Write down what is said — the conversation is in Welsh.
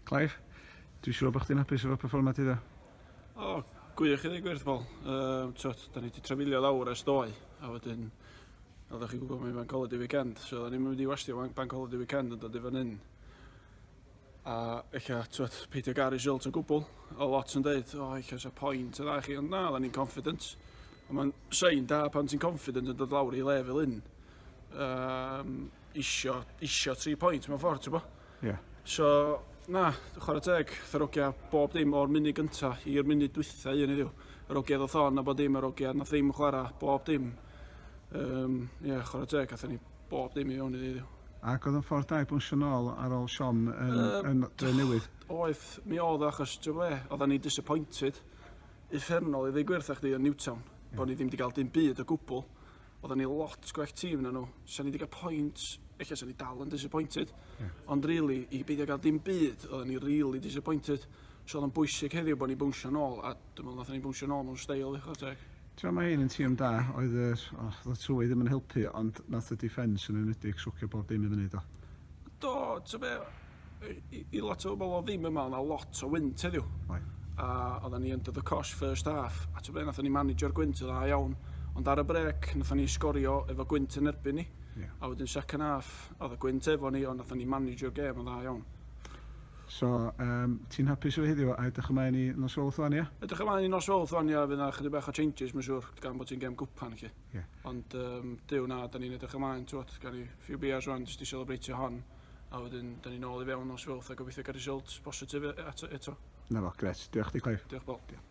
Clive, dwi'n siŵr bod chdi'n hapus efo performa ti dda? O, oh, gwych i ddweud gwir, Paul. Um, twt, da ni wedi trafilio lawr ers doi, a wedyn, fel ydych chi'n gwybod, mae'n banc holiday weekend, so da ni'n mynd i wastio banc holiday weekend yn dod i fan hyn. A ella, twyd, peidio gael result o gwbl. O lot yn dweud, o, ella eisiau pwynt o dda chi, ond na, dda ni'n confident. Ond mae'n sein da pan ti'n confident yn dod lawr i le fel un. Um, isio, isio tri pwynt mewn ffordd, ti'n bo? Ie. Yeah. So, na, chwarae teg, tharogia bob dim o'r munud gyntaf i'r munud dwytha un iddiw. Yr ogiad o thon a bod dim, yr ogiad na ddim chwarae, bob dim. Um, ie, yeah, chwarae teg, atho ni Bob dim i fewn iddi heddiw. Ac oedd o'n ffordd da i bwnsio nôl ar ôl siom yn, uh, yn Drenewydd? Oedd, mi oedd achos, ti'n ble, oedd ni disappointed uffernol i ddigwyr thach chdi yn Newtown, yeah. bod ni ddim wedi cael dim byd o gwbl. Oedd ni lot gwell tîm na nhw. Sa'n ni wedi cael pwynt, eich sa'n ni dal yn disappointed. Yeah. Ond really, i beidio gael dim byd, oedd ni really disappointed. So oedd o'n bwysig heddiw bod ni bwnsio nôl a Dwi'n meddwl nathon ni bownsio nôl mewn steil i chwara teg. T'mo' ma' hyn yn tîm da, oedd yr, o, oedd y twydd ddim yn helpu ond nath y defence yn enwedig swcio bob dim i fyny do? Do, t'o' be', i i lot o bobol o'dd ddim yma o' 'na lot o wynt heddiw. Oedd. A oddan ni under the cosh first half a t'o' be' nathon ni manegio'r gwynt yn dda iawn ond ar y brêc nathon ni sgorio efo gwynt yn erbyn ni. Ia. A wedyn second half o'dd y gwynt efo ni ond nathon ni manegio'r gêm yn dda iawn. So, yym, ti'n hapus efo heddiw a edrych ymlaen i Nos Fowlth wan, ia? Edrych ymlaen i Nos Fowlth wan, ia, fydd yna chydig bach o changes mae'n siŵr, gan bod ti'n gem gwpan chi. Ie. Ond um, Dyw na, da ni'n edrych ymlaen, twod, gan i few beers wan, jyst i celebreitio hon, a wedyn da ni'n ôl i fewn Nos Fowlth a gobeithio gael result positif e- eto. eto. Na fo, gret. Diolch di, Clive. Diolch, Paul. Diolch.